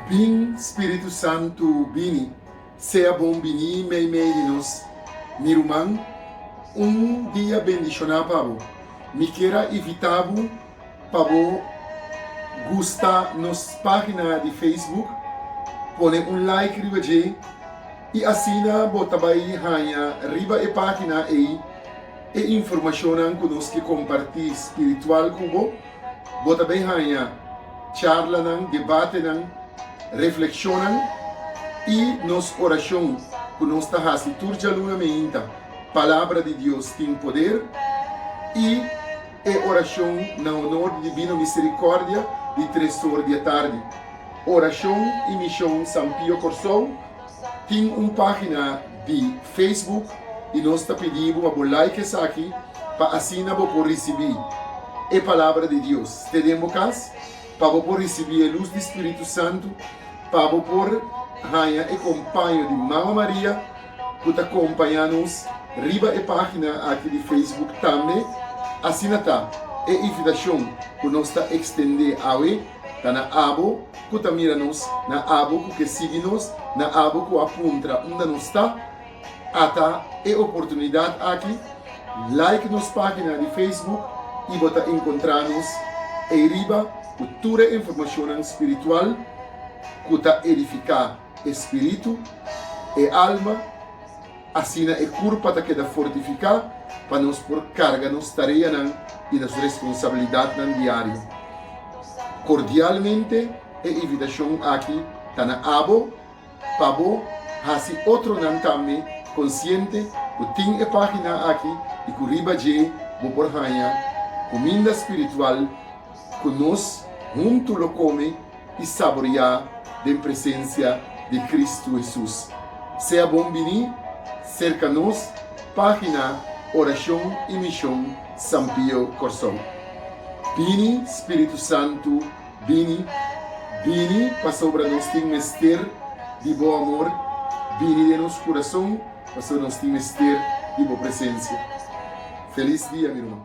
Bin Spiritu Santu bini, sea bon bini meimei di nos. Mi ruman, un dia bendishoná pa bo. Mi kier a ivitá bo pa bo gusta nos página di Facebook, pone un like riba dje i asina bo ta bai haña riba e página ei e informashonnan ku nos ke kompartí spiritual ku bo. Bo ta bay haña charlanan, debatenan, reflekshonnan i nos orashon ku nos ta hasi tur djaluna meinta. Palabra di Dios tin poder i e orashon na honor di dibino miserikòrdia di tres sor di e tardi. Orashon i Mishon San Pio Kòrsou. Tin un página di Facebook i nos ta pidi bo pa bo like esaki pa asina bo por risibí e Palabra di Dios te den bo kas, pa bo por risibí e lus di Spiritu Santu, pa bo por haña e kompaño di Mama Maria ku ta kompañá nos riba e página aki di Facebook tambe. Asina ta, e invitashon ku nos ta ekstendé awe. Ta na abo ku ta mira nos, na abo ku ke sigui nos, na abo ku a puntra unda nos ta. Ata e oportunidat aki, like nos página di Facebook i bo ta enkontrá nos ei riba ku tur e informashonnan spiritual ku ta edifiká e spiritu, e alma, Asina e kurpa ta keda fortifiká pa nos por karga nos tareanan i nos responsabilidatnan diario. Kordialmente e invitashon aki ta na abo pa bo hasi otronan tambe konsiente ku tin e página aki i ku riba dje bo por haña kuminda spiritual, Ku nos huntu lo kome i saboriá den presensia di Kristu Hesus. Sea bon biní serka nos página Orashon i Mishon San Pio Kòrsou. Bini Spiritu Santu, bini, bini pasobra nos tin mester di bo amor, bini den nos kurason pasobra nos tin mester di bo presensia. Felis dia mi ruman.